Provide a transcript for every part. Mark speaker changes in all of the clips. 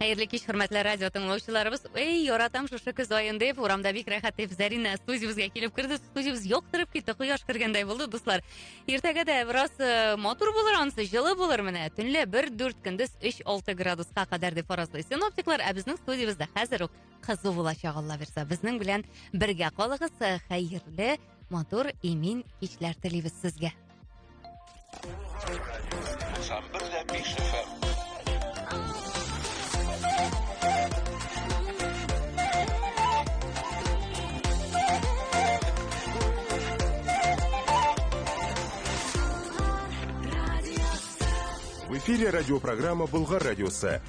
Speaker 1: Хәерле кич, хөрмәтле радио тыңлаучыларыбыз. Эй, яратам шушы көз аен дип, урамда бик рәхәт дип Зарина студиябезгә килеп керде. Студиябез яктырып китте, кояш кергәндәй булды, дуслар. Иртәгә дә бераз э, матур булыр ансы, җылы булыр менә. Төнлә 1-4 көндез 3-6 градуска кадәр дип фаразлый синоптиклар, ә безнең студиябездә хәзер үк кызу булачак Алла бирса. Безнең белән бергә калыгыз. Э, Хәерле, матур, имин кичләр телибез сезгә. В эфире радиопрограмма «Булгар радиосы».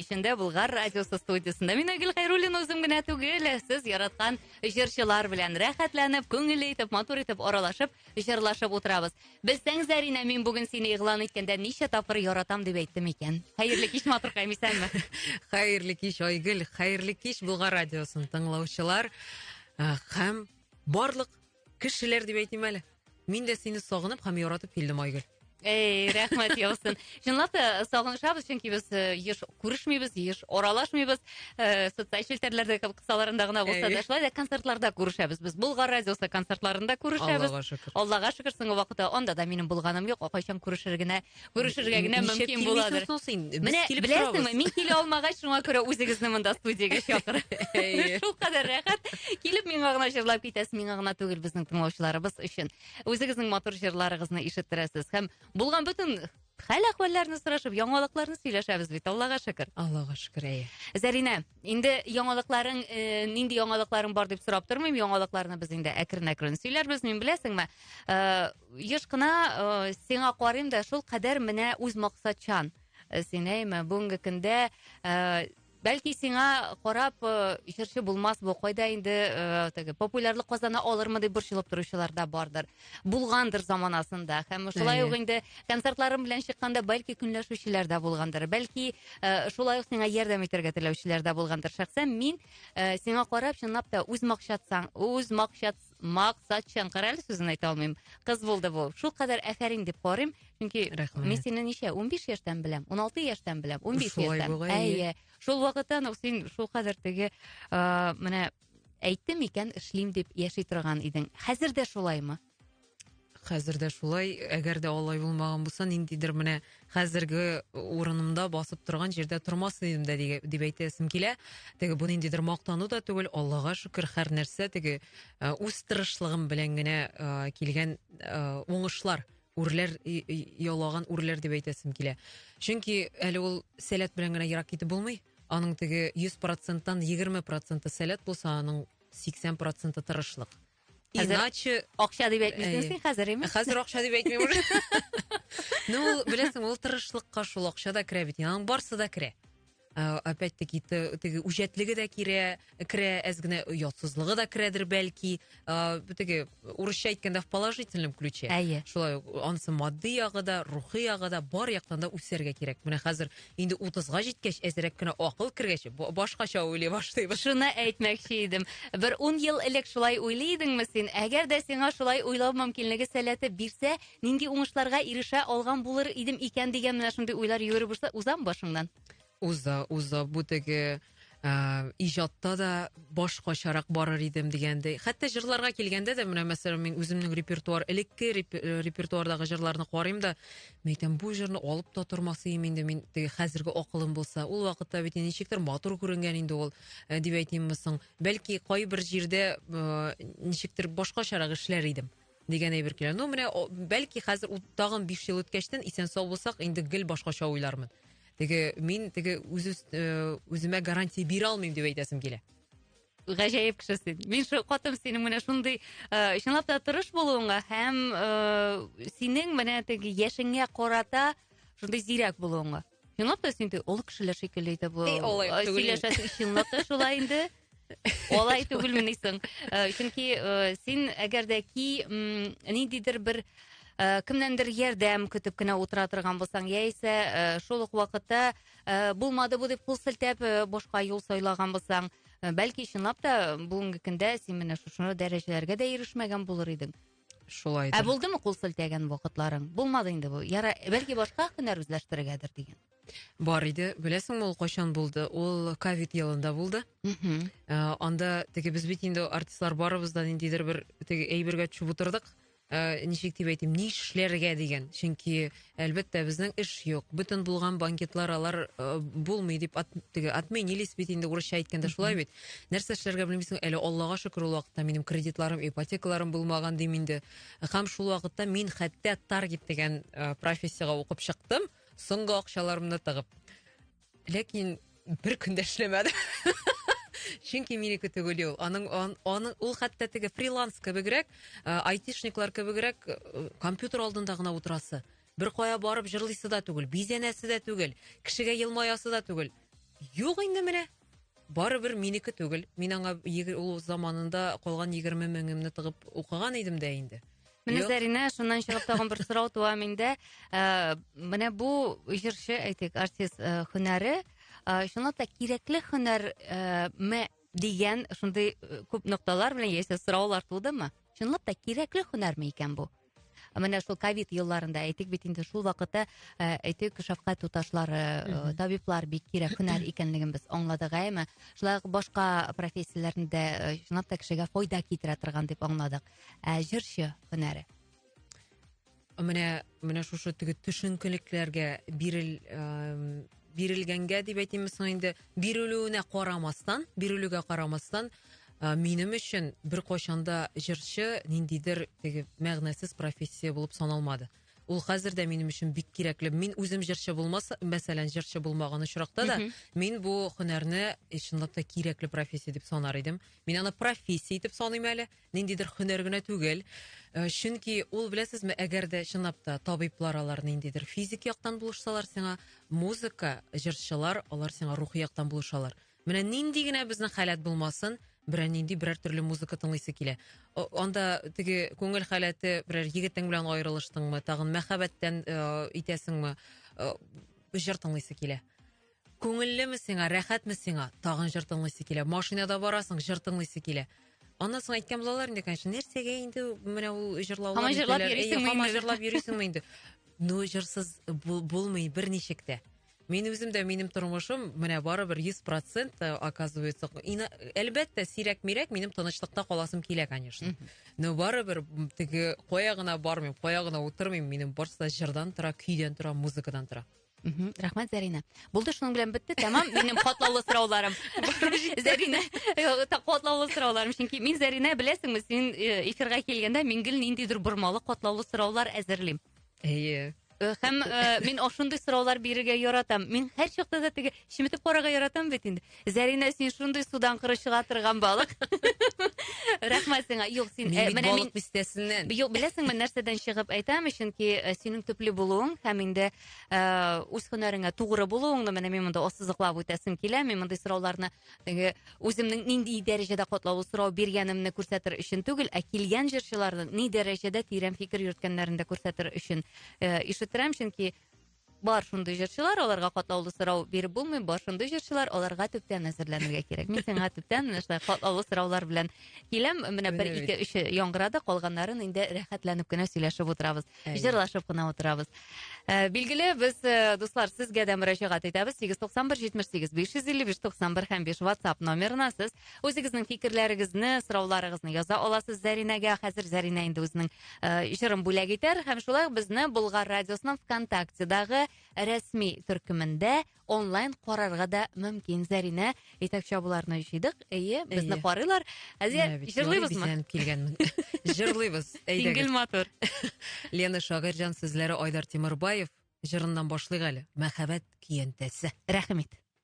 Speaker 1: кичендә Булгар радиосы студиясендә. Мин Айгөл Хайруллин үзем генә түгел, сез яраткан җырчылар белән рәхәтләнеп, күңелле итеп, матур итеп аралашып, җырлашып утырабыз. Белсәң, Зәринә, мин бүген сине игълан иткәндә ничә тапкыр яратам дип әйттем икән. Хәерле кич, матуркаем, исәнме? Хәерле кич, Айгөл. Хәерле кич, Булгар радиосын тыңлаучылар. Э, һәм барлык Кешеләр дип әйтмим әле. Мин дә сине сагынып һәм яратып килдем, Айгөл. Эй, рәхмәт яусын. Чынлап та сагынышабыз, чөнки без э, еш күрешмибез, еш аралашмыйбыз. Э, социаль челтәрләрдә кебек кысаларында гына булса да, шулай да концертларда күрешәбез. Без Болгар радиосы концертларында күрешәбез. Аллага шөкер. Аллага шөкер, соңгы вакытта анда да минем булганым юк. Кайчан күрешер генә Күрешергә генә мөмкин буладыр. Менә беләсеңме, мин килә алмагач, шуңа күрә үзегезне монда студиягә чакыр. Шул кадәр рәхәт. Килеп миңа гына җырлап китәсез, миңа гына түгел, безнең тыңлаучыларыбыз өчен. Үзегезнең матур җырларыгызны ишеттерәсез һәм булган бөтен хәл әхвәлләрне сорашып, яңалыкларны сөйләшәбез бит, Аллага шөкер. Аллага шөкер, әйе. Зәринә, инде яңалыкларың, э, нинди яңалыкларың бар дип сорап тормыйм, яңалыкларны без инде әкрен-әкрен сөйләрбез, мин беләсеңме, э, еш кына э, сиңа карыйм да шул кадәр менә үз максатчан э, син әйме бүгенге көндә э, бәлки сиңа карап э, җырчы булмас бу кайда инде э, теге популярлык казана алырмы дип борчылып торучылар да бардыр булгандыр заманасында һәм шулай ук инде концертларым белән чыкканда бәлки көнләшүчеләр дә булгандыр бәлки э, шулай ук сиңа ярдәм итәргә теләүчеләр дә булгандыр шәхсән мин э, сиңа карап чынлап та үз максатсаң үз максат максатчан кара әле сүзен айта алмыйм кыз булды бу шул кадәр әфәрин дип карыйм чөнки рәхмәт мин сине ничә унбиш яшьтән беләм уналты яшьтән беләм унбиш яшьтән әйе шул вакыттан ук син шул кадәр теге ыыы менә әйттем икән эшлим дип яши торган идең хәзер дә шулаймы Хәзер дә шулай, әгәр дә алай булмаган булса, ниндидер менә хәзерге урынымда басып торган җирдә тормас идем дә дип әйтәсем килә. Теге бу ниндидер мактану да түгел, Аллага шөкер, һәр нәрсә теге э, үз тырышлыгым белән генә э, килгән э, уңышлар үрләр ялаган үрләр дип әйтәсем килә. Чөнки әле ул сәләт белән генә ерак китеп булмый. Аның теге 100%-тан 20% сәләт булса, аның 80% тырышлык. Иначе акча дип әйтмисең син хәзер имеш. Хәзер акча дип әйтмим уже. Ну, беләсең, ул тырышлыкка шул акча да керә бит. Аның барсы да керә. Э, опять-таки теге үҗәтлеге дә керә, керә, әз генә оятсызлыгы да керәдер бәлки. Э, теге урысча әйткәндә в положительном ключе. Әйе. Шулай анысы матди ягы да, рухи ягы да бар яктан да үсәргә кирәк. Менә хәзер Инде 30га җиткәч, әзрәк кенә акыл кергәч, башкача уйлый башлыйбыз. Шуны әйтмәкче идем. Бер 10 ел элек шулай уйлый идеңме син? Әгәр дә сиңа шулай уйлау мөмкинлеге сәләте бирсә, нинди уңышларга ирешә алган булыр идем икән дигән менә шундый уйлар йөгереп уза, узамы башыңнан? Уза, уза. Бу теге ә, иҗатта да башкачарак барыр идем дигәндәй. Хәтта җырларга килгәндә дә, менә мәсәлән, мин үземнең репертуар, элекке э, репертуардагы җырларны карыйм да, мин әйтәм, бу җырны алып та тормасыйм инде мин, теге хәзерге акылым булса. Ул вакытта бит ничектер матур күренгән инде ул, э, дип әйтимме соң. Бәлки кайбер җирдә э, ничектер башкачарак эшләр идем. дигән әйбер килә. Ну, менә, бәлки хәзер тагын 5 ел үткәчтен исән сау булсак, инде гел башкача уйлармын. Теге мин теге үз э, үземә гарантия бирә алмыйм дип әйтәсем килә. Гаҗәеп кеше син. Мин шул катым синең менә шундый, э, чынлап та тырыш булуыңа һәм э, синең менә теге яшеңә карата шундый зирәк булуыңа. Чынлап та син ул кешеләр шикелле итә бу. Сөйләшәсең чынлап та шулай инде. Алай түгелмени соң. Э, чөнки э, син әгәр дә ки ниндидер бер э, кемнәндер ярдәм көтеп кенә утыра торган булсаң, яисә шул ук вакытта булмады бу дип кул селтәп башка юл сайлаган булсаң, бәлки чынлап та бүгенге көндә син менә шушы дәрәҗәләргә дә ирешмәгән булыр идең. Шулай. Ә булдымы кул селтәгән вакытларың? Булмады инде бу. Яра, бәлки башка һөнәр үзләштерергәдер дигән. Бар иде. Беләсеңме ул кайчан булды? Ул ковид елында булды. Мхм. Э, анда теге без бит инде артистлар барыбыз да ниндидер бер теге әйбергә төшеп утырдык. Э, ничек дип әйтим, ни эшләргә дигән. Чөнки Әлбәттә, безнең эш юк. Бөтен булган банкетлар алар э, булмый дип ат, теге отменились бит инде урысча әйткәндә шулай бит. Нәрсә эшләргә белмисең, әле Аллага шөкер ул вакытта минем кредитларым, ипотекаларым булмаган дим инде. Һәм шул вакытта мин хәтта таргет дигән э, профессиягә укып чыктым, соңгы акчаларымны тыгып. Ләкин бер көн дә эшләмәдем. Чөнки минеке түгел ул. Аның он, он, ул хәтта теге фриланс кебегрәк, э, айтишниклар кебегрәк э, компьютер алдында гына утырасы. Бер кая барып җырлыйсы да түгел, бизәнәсе дә түгел, кешегә елмаясы да түгел. Юк инде менә. Барыбер минеке түгел. Мин аңа егер- ул заманында калган 20 меңемне тыгып укыган идем дә инде. Менә Юк. Зәринә, шуннан чыгып тагын бер сорау туа миндә. Ә, Менә бу җырчы, әйтик, артист ә, һөнәре, ә, чынлап та кирәкле һөнәр ә, ме дигән шундый э, күп нокталар белән яисә сораулар тудымы? Чынлап та кирәкле һөнәрме икән бу? Менә шул ковид елларында әйтик бит инде шул вакытта ә, әйтик шәфкать туташлары, э, табиблар бик кирәк һөнәр икәнлеген без аңладык, әйме? Шулай ук башка профессияләрендә э, чынлап та кешегә файда китерә торган дип аңладык. ә җырчы һөнәре менә менә шушы теге төшенкелекләргә бирел бирелгәнгә дип әйтимме соң инде бирелүенә карамастан бирелүгә карамастан Ә, минем өчен бер кайчанда җырчы ниндидер теге мәгънәсез профессия булып саналмады ул хәзер дә минем өчен бик кирәкле мин үзем җырчы булмаса мәсәлән җырчы булмаган очракта да мин бу һөнәрне чынлап та кирәкле профессия дип санар идем мин аны профессия итеп саныйм әле ниндидер һөнәр генә түгел. Э, чөнки ул беләсезме, әгәр дә чынлап та табиблар алар ниндидер физик яктан булышсалар сиңа, музыка, җырчылар алар сиңа рухи яктан булышалар. Менә нинди генә безнең халәт булмасын, берәр нинди берәр төрле музыка тыңлыйсы килә. Анда теге күңел халәте берәр егетең белән аерылыштыңмы, тагын мәхәббәттән э, итәсеңме, э, җыр тыңлыйсы килә. Күңеллеме сиңа, рәхәтме сиңа? Тагын җыр тыңлыйсы килә. Машинада барасың, җыр тыңлыйсы килә. Аннан соң әйткән булалар инде, конечно, нәрсәгә инде менә ул җырлаулар. Һаман җырлап йөрисеңме? Һаман җырлап йөрисеңме инде? Ну, җырсыз булмый берничек тә. Мин үзем дә минем тормышым менә барыбер 100% э, оказывается. Әлбәттә, сирәк-мирәк минем тынычлыкта каласым килә, конечно. Но барыбер теге кая гына бармыйм, кая гына утырмыйм, минем барысы да җырдан тора, көйдән тора, музыкадан тора. Мхм, рәхмәт, Зәринә. Булды, шуның белән бетте, тәмам минем катлаулы сорауларым. Зәринә, э, та- катлаулы сорауларым, чөнки мин Зәринә, беләсеңме, син э, эфирга килгәндә мин гел ниндидер бормалы катлаулы сораулар әзерлим. Әйе. Э, Һәм э, мин ошондый сораулар бирергә яратам. Мин һәр чакта да теге чеметеп карарга яратам бит инде. Зәринә, син шундый судан коры чыга торган балык. Рәхмәт сиңа. Юк, син э, Мин бит менә мин балык бистәсеннән. Юк, беләсеңме, нәрсәдән чыгып әйтәм, чөнки э, синең төпле булуың һәм инде э, үз һөнәреңә тугры булуыңны менә мин монда ассызыклап үтәсем килә. Мин мондый сорауларны теге үземнең нинди дәрәҗәдә катлаулы сорау биргәнемне күрсәтер өчен түгел, ә килгән җырчыларның ни дәрәҗәдә тирән фикер йөрткәннәрен дә күрсәтер өчен э, ишеттерәм, чөнки Бар шундый җырчылар, аларга катлаулы сорау биреп булмый, бар шундый җырчылар, аларга төптән әзерләнергә кирәк. Мин сиңа төптән менә шулай катлаулы сораулар белән киләм. Менә бер, ике, өче яңгырады, калганнарын инде рәхәтләнеп кенә сөйләшеп утырабыз. Җырлашып кына утырабыз. Ә, билгеле, без, э, дуслар, сезгә дә мөрәҗәгать итәбез. 891 78 555 91 һәм 5 WhatsApp номерына сез үзегезнең фикерләрегезне, сорауларыгызны яза аласыз Зәринәгә. Хәзер Зәринә инде үзенең э, җырын бүләк итәр һәм шулай ук безне Болгар радиосының ВКонтактедагы рәсми төркемендә онлайн карарга да мөмкин. Зәринә итәкче абыларны җыйдык. Әйе, безне Әйе. карыйлар. Әзия, Менә бит, җырлыйбызмы? Нури бизәнеп килгәнмен. Җырлыйбыз. Сингел Әйдәгез. матур. Лена Шагыйрьҗан сүзләре Айдар Тимербаев җырыннан башлыйк әле. Мәхәббәт көянтәсе. Рәхмәт.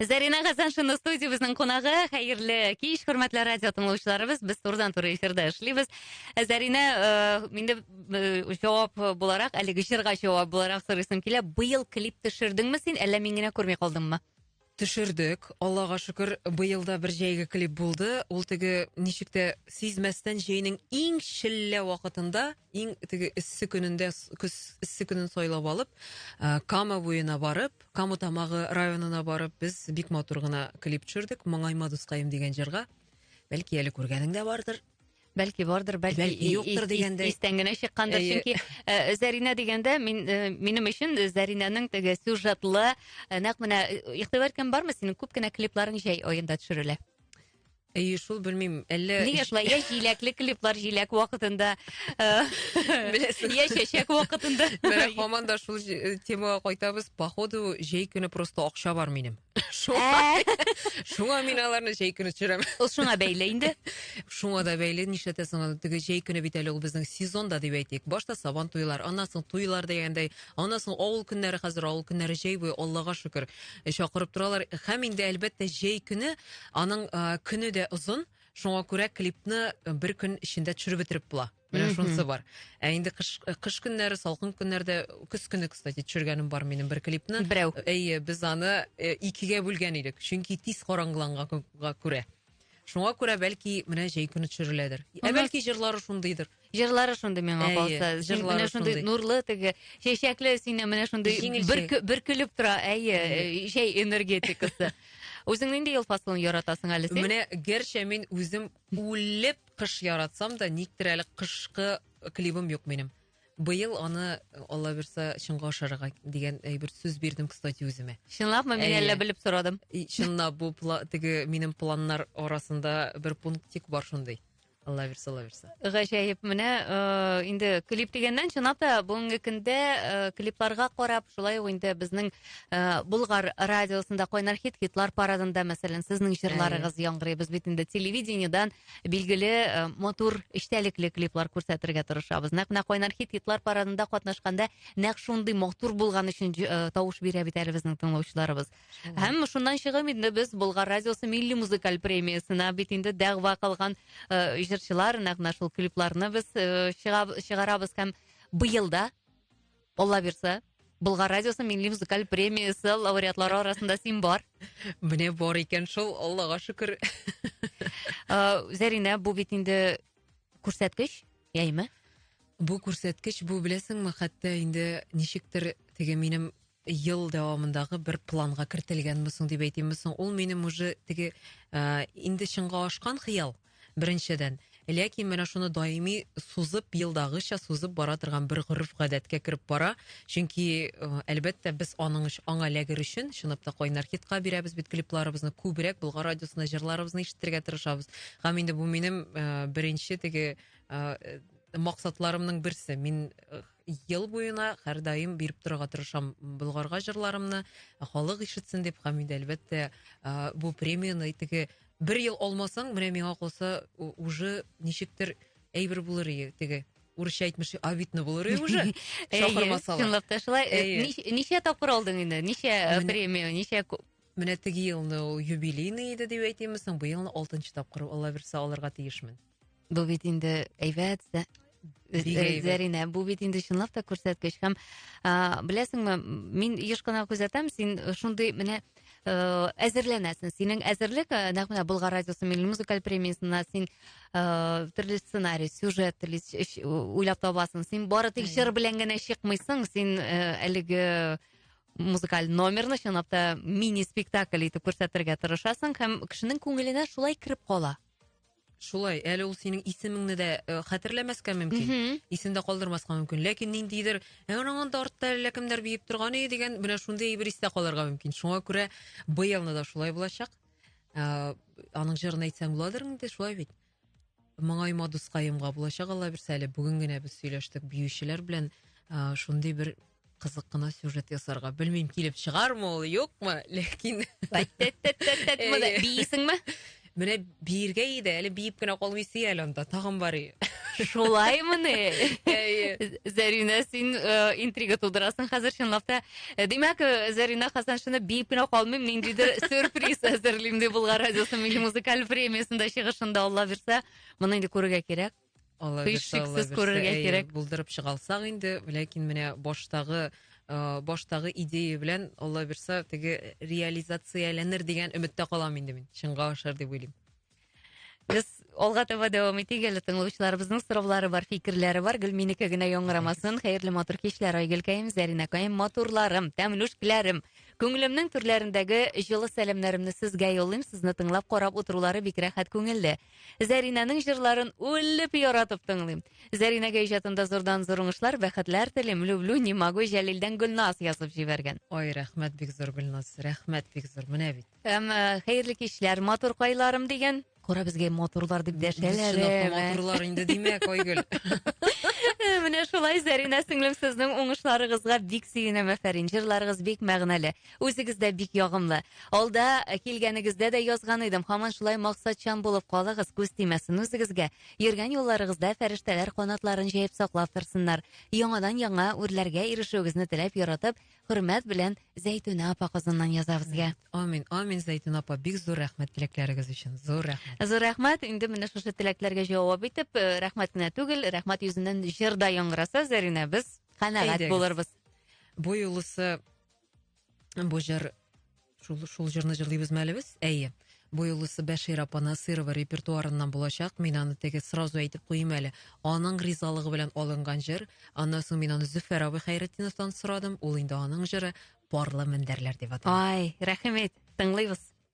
Speaker 1: Зарина Хасаншина студиябезнең кунагы. Хәерле кич, хөрмәтле радио тыңлаучыларыбыз. Без турыдан туры эфирда эшлибез. Э, Зарина, э, инде э, җавап буларак, әлеге җырга җавап буларак сорыйсым килә. Быел клип төшердеңме син, әллә мин генә күрми калдыммы? Төшердек. Аллага шөкер, быел да бер җәйге клип булды. Ул теге ничек тә сизмәстән җәйнең иң челлә вакытында, иң теге эссе көнендә, с- көз эссе көнен сайлап алып, э, Кама буена барып, Каму тамагы районына барып без бик матур гына клип төшердек. Моңайма дускаем дигән җырга. Бәлки әле күргәнең дә бардыр. Бәлки бардыр, бәлки, бәлки юктыр дигәндә. Истән генә чыккандыр, чөнки э, Зәринә дигәндә мин э, минем өчен Зәринәнең теге сюжетлы, э, нәкъ менә игътибар иткән бармы синең күп кенә клипларың җәй аенда төшерелә? Әйе шул, белмим, әллә... Нигә шулай, я җиләкле клиплар җиләк вакытында, беләсең, я чәчәк вакытында. Менә һаман да шул э, темага кайтабыз, походу, җәй көне просто акча бар минем. Шуңа, шуңа мин аларны җәй көне төшерәм. Ул шуңа бәйле инде. Шуңа да бәйле, нишләтәсең аны, теге җәй көне бит әле ул безнең сезон да дип әйтик. Башта сабан туйлар, аннан соң туйлар дигәндәй, аннан соң авыл көннәре хәзер авыл көннәре җәй буе, Аллага шөкер, чакырып торалар. Һәм инде әлбәттә җәй көне Аның көне дә озын, шуңа күрә клипны бер көн эчендә төшереп бетереп була. Менә шунысы бар. Ә инде кыш, кыш көннәре, салкын көннәрдә, көз көне, кстати, төшергәнем бар минем бер клипны. Берәү. Әйе, без аны э, икегә бүлгән идек, чөнки тиз караңгыланганга күрә. Шуңа күрә бәлки менә җәй көне төшереләдер. Ә бәлки җырлары шундыйдыр. Җырлары шундый миңа Әйе, калса. Син җырлары менә шундый шундый. нурлы теге, чәчәкле сине менә шундый Җиңелчә. бөрке- бөркелеп тора, әйе, э, чәй энергетикасы. Үзең нинди ел фасылын яратасың әле син? Менә гәрчә мин үзем үлеп кыш яратсам да, никтер әле кышкы клибым юк минем. Быел аны, Алла бирса, чынга ашарга дигән э, бер сүз бирдем, кстати, үземә. Чынлапмы мин Әйе. әллә белеп сорадым? И, Чынлап бу пла- теге минем планнар арасында бер пунктик бар шундый. Алла бирса, Алла бирса. Гаҗәеп, менә э, инде клип дигәннән чынлап та бүгенге көндә э, клипларга карап, шулай ук инде безнең э, Болгар радиосында кайнар хит хитлар парадында, мәсәлән, сезнең җырларыгыз яңгырый. Без бит инде телевидениедән билгеле э, матур эчтәлекле клиплар күрсәтергә тырышабыз. Нәкъ менә кайнар хит хитлар парадында катнашканда нәкъ шундый матур булган өчен э, тавыш бирә бит әле безнең тыңлаучыларыбыз. Һәм шуннан чыгып инде без Болгар радиосы милли музыкаль премиясенә бит инде дәгъва кылган э, җырчылар, нәкъ менә шул клипларны без э, чыгаб- чыгарабыз һәм быел да Алла бирса Болгар радиосы милли музыкаль премиясе лауреатлары арасында син бар. Менә бар икән шул, Аллага шөкер. Э, Зәринә, бу бит инде күрсәткеч, яйме? Бу күрсәткеч, бу беләсеңме, хәтта инде ничектер теге минем ел дәвамындагы бер планга кертелгәнме соң дип әйтимме соң, ул минем уже теге ә, инде чынга ашкан хыял беренчедән. Ләкин менә шуны даими сузып, елдагыча сузып бара торган бер гореф гадәткә кереп бара. Чөнки э, әлбәттә без аның өч, аңа ләгер өчен чынлап кайнар хитка бирәбез бит клипларыбызны күбрәк Болгар радиосында җырларыбызны ишетергә тырышабыз. Һәм инде бу минем э, беренче теге э, максатларымның берсе. Мин э, ел буена һәрдаим биреп торырга тырышам Болгарга җырларымны, халык ишетсен дип, һәм инде әлбәттә бу премияне теге бер ел алмасаң, менә миңа калса уже ничектер әйбер булыр ие теге урысча әйтмеш обидно булыр ие уже шакырмасалар чынлап та шулай э, ничә тапкыр алдың инде ничә э, премия ничә менә теге елны ул юбилейный иде дип әйтимме соң быелны алтынчы тапкыр алла бирса алырга тиешмен Бу бит инде әйбәт Зәринә, бу бит инде чынлап та күрсәткеч һәм беләсеңме, мин еш кына күзәтәм, син шундый менә э, әзерләнәсең. Синең әзерлек э, нәкъ менә Болгар радиосы милли музыкаль премиясенә син э, төрле сценарий, сюжет уйлап табасың. Син бары тик җыр белән генә чыкмыйсың, син әлеге музыкаль номерны чынлап та мини спектакль итеп күрсәтергә тырышасың һәм кешенең күңеленә шулай кереп кала. Шулай, әле ул синең исемеңне дә э, хәтерләмәскә мөмкин, исендә калдырмаска мөмкин. Ләкин ниндидер, ә аның анда артта әллә кемнәр биеп торган и дигән менә шундый әйбер истә калырга мөмкин. Шуңа күрә быелны да шулай булачак. Ә, аның җырын әйтсәң буладыр инде, шулай бит. Моңайма дускаемга булачак Алла бирсә әле. Бүген генә без сөйләштек биючеләр белән. Ә, шундый бер кызык кына сюжет ясарга. Белмим, килеп чыгармы ул, юкмы, ләкин... Бейсеңме? Менә биергә иде, әле биеп кенә калмыйсы әле анда, тагын барый. Шулай мыны? Зәринә, син э, интрига тудырасың хәзер чынлап та. Э, димәк, э, Зәринә Хасаншина биеп кенә калмыйм, ниндидер сюрприз әзерлим дип булган радиосы музыкаль премиясендә чыгышында Алла бирсә, моны инде күрергә кирәк. Һичшиксез күрергә кирәк. Булдырып чыгалсак инде, ләкин менә баштагы э, баштагы идея белән Алла бирса теге реализацияләнер дигән өметтә калам инде мин. Чынга ашар дип уйлыйм. Без алга таба дәвам итик әле тыңлаучыларыбызның сораулары бар, фикерләре бар. Гөлминеке генә яңгырамасын. Хәерле матур кичләр, Айгөлкәем, Зәринәкәем, матурларым, тәмлүшкиләрем. Күңелемнең түрләрендәге җылы сәламнәремне сезгә юллыйм. Сезне тыңлап карап утырулары бик рәхәт күңелле. Зәринәнең җырларын үлеп яратып тыңлыйм. Зәринәгә иҗатында зурдан зур уңышлар, бәхетләр телим. Люблю, не могу, Җәлилдән Гөлназ язып җибәргән. Ой, рәхмәт бик зур, Гөлназ. Рәхмәт бик зур. Менә бит. Һәм э, хәерле кичләр, матур кайларым дигән. Кара безгә матурлар дип дәшәләр. Э, матурлар инде димәк, Айгөл. Менә шулай, Зәринә сеңлем, сезнең уңышларыгызга бик сөенәм, әфәрин. Җырларыгыз бик мәгънәле. Үзегез дә бик ягымлы. Алда килгәнегездә дә язган идем. Хаман шулай максатчан булып калыгыз, күз тимәсен үзегезгә. Йөргән юлларыгызда фәрештәләр канатларын җәеп саклап торсыннар. Яңадан яңа үрләргә ирешүегезне теләп яратып, хөрмәт белән Зәйтүнә апа Казаннан яза безгә. Амин, амин Зәйтүнә апа, бик зур рәхмәт теләкләрегез өчен. Зур рәхмәт. Зур рәхмәт. Инде менә шушы теләкләргә җавап итеп, э, рәхмәт кенә түгел, рәхмәт йөзеннән җыр да яңгыраса, Зәринә, без канәгать булырбыз. Бу юлысы Бу җыр шул, шул җырны җырлыйбызмы әле без? Әйе. Бу юлысы Бәшир апа Насырова репертуарыннан булачак. Мин аны теге сразу әйтеп куйыйм әле. Аның ризалыгы белән алынган җыр. Аннан соң мин аны Зөфәр абый Хәйретдиновтан сорадым. Ул инде аның җыры Парлы мендәрләр дип атала. Ай, рәхимет. Тыңлыйбыз.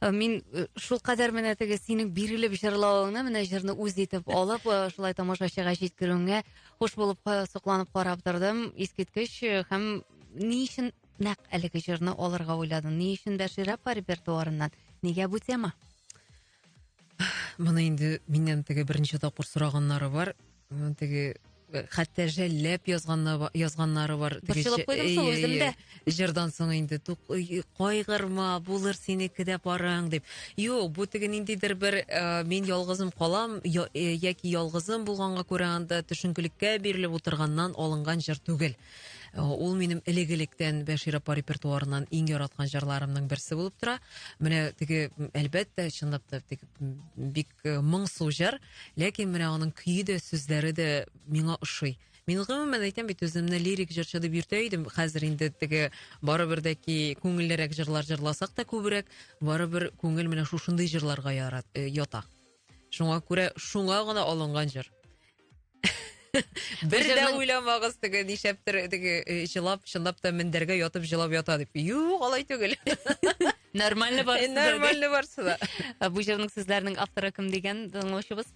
Speaker 1: Э, мин э, шул кадәр менә теге синең бирелеп җырлавыңны менә җырны үз итеп алып э, шулай тамашачыга җиткерүеңә хуш булып сокланып карап тордым искиткеч һәм ни өчен нәкъ әлеге җырны алырга уйладың ни өчен бәширә апа репертуарыннан нигә бу тема моны инде миннән теге берничә тапкыр сораганнары бар Теге хәтта жәлләп язганнар язганнары бар. Борчылып куйдым шул үзем дә. Җырдан соң инде кайгырма, булыр синеке дә парың дип. Юк, бу теге ниндидер бер мин ялгызым калам яки ялгызым булганга күрә анда төшенкелеккә бирелеп утырганнан алынган җыр түгел. Ул минем элек-электән Бәшир апа репертуарыннан иң яраткан җырларымның берсе булып тора. Менә теге әлбәттә, чынлап та бик моңсу җыр, ләкин менә аның көе дә, сүзләре дә миңа ошый. Мин гомумән әйтәм бит үземне лирик җырчы дип йөртә идем. Хәзер инде теге барыбер дә ки күңеллерәк җырлар җырласак та күбрәк, барыбер күңел менә шушындый җырларга ярат, э, ята. Шуңа күрә шуңа гына алынган җыр. Бер дә уйламагыз теге нишәптер теге э, җылап чынлап та мендәргә ятып җылап ята дип. Юк, алай түгел. Нормально барсы да. Нормально барсы да. Ә Бу җырның сүзләренең авторы кем дигән тыңлаучыбыз?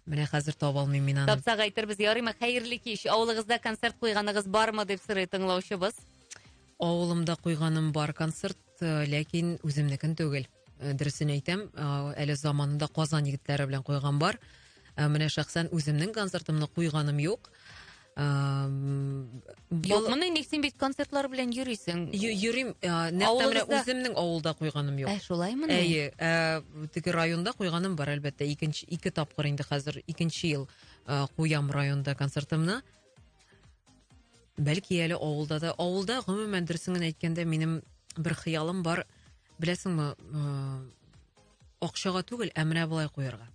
Speaker 1: Менә хәзер таба алмыйм мин аны. Тапсак әйтербез, ярыймы? Хәерле кич. Авылыгызда концерт куйганыгыз бармы дип сорый тыңлаучыбыз. Авылымда куйганым бар концерт, э, ләкин үземнекен түгел. Э, дөресен әйтәм э, әле заманында казан егетләре белән куйган бар э, менә шәхсән үземнең концертымны куйганым юк юкмыни ник син бит концертлар белән йөрисең йөрим нәкъ үземнең авылда куйганым юк ә шулаймыни әйе теге районда куйганым бар әлбәттә икенче ике тапкыр инде хәзер икенче ел куям районда концертымны Бәлки әле авылда да. Авылда, гомумән, дөресен генә әйткәндә, минем бер хыялым бар. Беләсеңме, э, акчага түгел, ә менә болай куярга.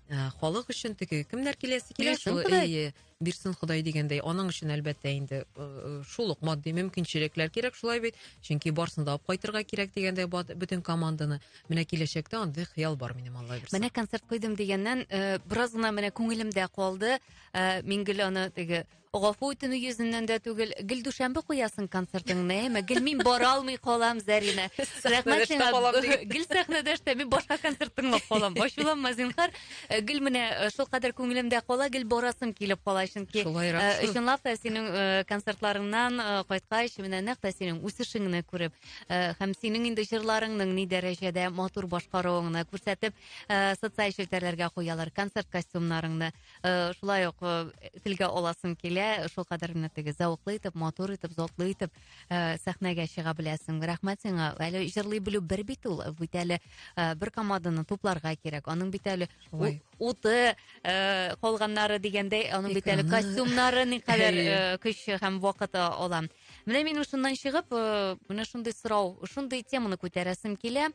Speaker 1: Э, халык өчен теге кемнәр киләсе килә шул әйе бирсен ходай дигәндәй аның өчен әлбәттә инде э, шул ук матди мөмкинчелекләр кирәк шулай бит чөнки барсын да алып кайтырга кирәк дигәндәй бөтен команданы менә киләчәктә андый хыял бар минем алла бирса менә концерт куйдым дигәннән э, бераз гына менә күңелемдә калды Ә, мин гел аны теге гафу үтенү йөзеннән дә түгел, гел дүшәмбе куясың концертыңны, әйме? Гел мин бара алмый калам, Зәринә. Рәхмәт сиңа. Гел сәхнәдә эштә, мин башка концерт тыңлап калам. Ачуланма, зинһар. Э, гел менә э, шул кадәр күңелемдә кала, гел барасым килеп кала, чөнки э, чынлап та синең концертларыңнан кайткач, менә нәкъ тә синең үсешеңне күреп, һәм синең инде җырларыңның ни дәрәҗәдә матур башкаруыңны күрсәтеп, социаль челтәрләргә куялар концерт костюмнарыңны. Э, шулай ук э, телгә аласым килә шулкадәр генә теге зәвыклы итеп матур итеп затлы итеп э, сәхнәгә чыга беләсең рәхмәт сиңа әле җырлый белү бер бит ул бит әле бер команданы тупларга кирәк аның бит әле уты калганнары дигәндәй аның бит әле костюмнары никадәр көч һәм вакыт ала менә мин шуннан чыгып менә шундый сорау шундый теманы күтәрәсем килә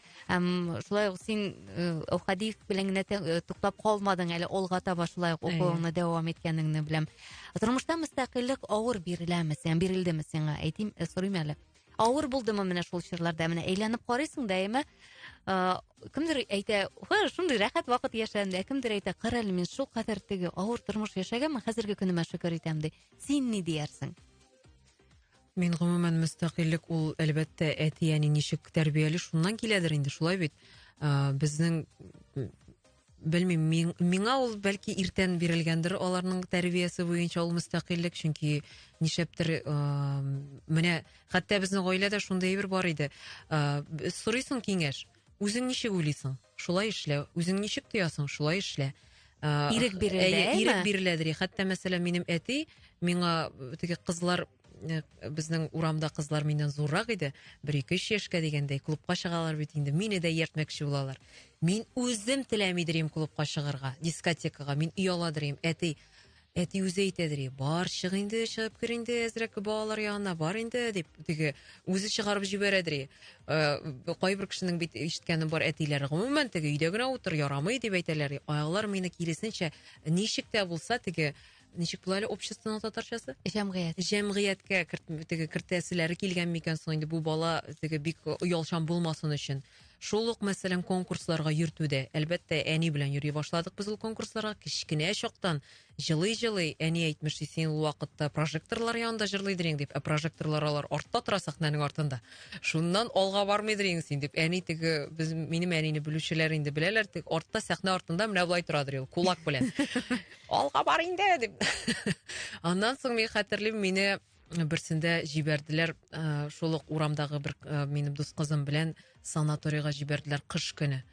Speaker 1: һәм шулай ук син әүхәди белән генә туктап калмадың әле алга таба шулай ук укуыңны дәвам иткәнеңне беләм тормышта мөстәкыйльлек авыр биреләме сиңа бирелдеме сиңа әйтим сорыйм әле авыр булдымы менә шул чорларда менә әйләнеп карыйсың да әмма кемдер әйтә шундый рәхәт вакыт яшәдем ә кемдер әйтә кара әле мин шул кадәр теге авыр тормыш яшәгәнмен хәзерге көнемә шөкер итәм ди син ни диярсең Мин гомумән мөстәкыйльлек ул әлбәттә әти-әни ничек тәрбияли шуннан киләдер инде, шулай бит. Ә, безнең белмим, мин, миңа ул бәлки иртән бирелгәндер аларның тәрбиясе буенча ул мөстәкыйльлек, чөнки нишәптер ә, менә хәтта безнең гаиләдә шундый әйбер бар иде. Ә, сорыйсың киңәш, үзең ничек уйлыйсың? шулай эшлә. Үзең ничек тоясың, шулай эшлә. Ә, ирек бирелә, әйе, ирек бирелә дери. Хәтта мәсәлән, минем әти миңа теге кызлар э, безнең урамда кызлар миннән зуррак иде. Бер ике өч яшькә дигәндәй клубка чыгалар бит инде. Мине дә ияртмәкче булалар. Мин үзем теләмидерим клубка чыгарга, дискотекага. Мин ояладырым. Әти, Әти үзе әйтә, ди, бар, чык инде, чыгып кер инде әзрәк балалар ягына, бар инде, дип, теге, үзе чыгарып җибәрә, ди. Э, кайбер кешенең бит ишеткәне бар, әтиләр, гомумән, теге, өйдә генә утыр, ярамый, дип әйтәләр. Алар мине киресенчә, ничек тә булса, теге, ничек була әле обществоның татарчасы? Җәмгыять. Җәмгыятькә теге кертәселәре килгән микән соң инде бу бала теге бик оялчан булмасын өчен. Шул ук, мәсәлән, конкурсларга йөртүдә. Әлбәттә, әни белән йөри башладык без ул конкурсларга. Кечкенә чактан җылый-җылый әни әйтмеш, син ул вакытта прожекторлар янында җырлыйдыр ең дип, ә прожекторлар алар артта тора сәхнәнең артында. Шуннан алга бармыйдыр ең син дип. Әни теге без минем әнине белүчеләр инде беләләр, теге артта сәхнә артында менә болай торадыр ул кулак белән. Алга бар инде дип. Аннан соң мин хәтерлим, мине берсендә җибәрделәр ә, шул ук урамдагы бер ә, минем дус кызым белән санаторийга җибәрделәр кыш көне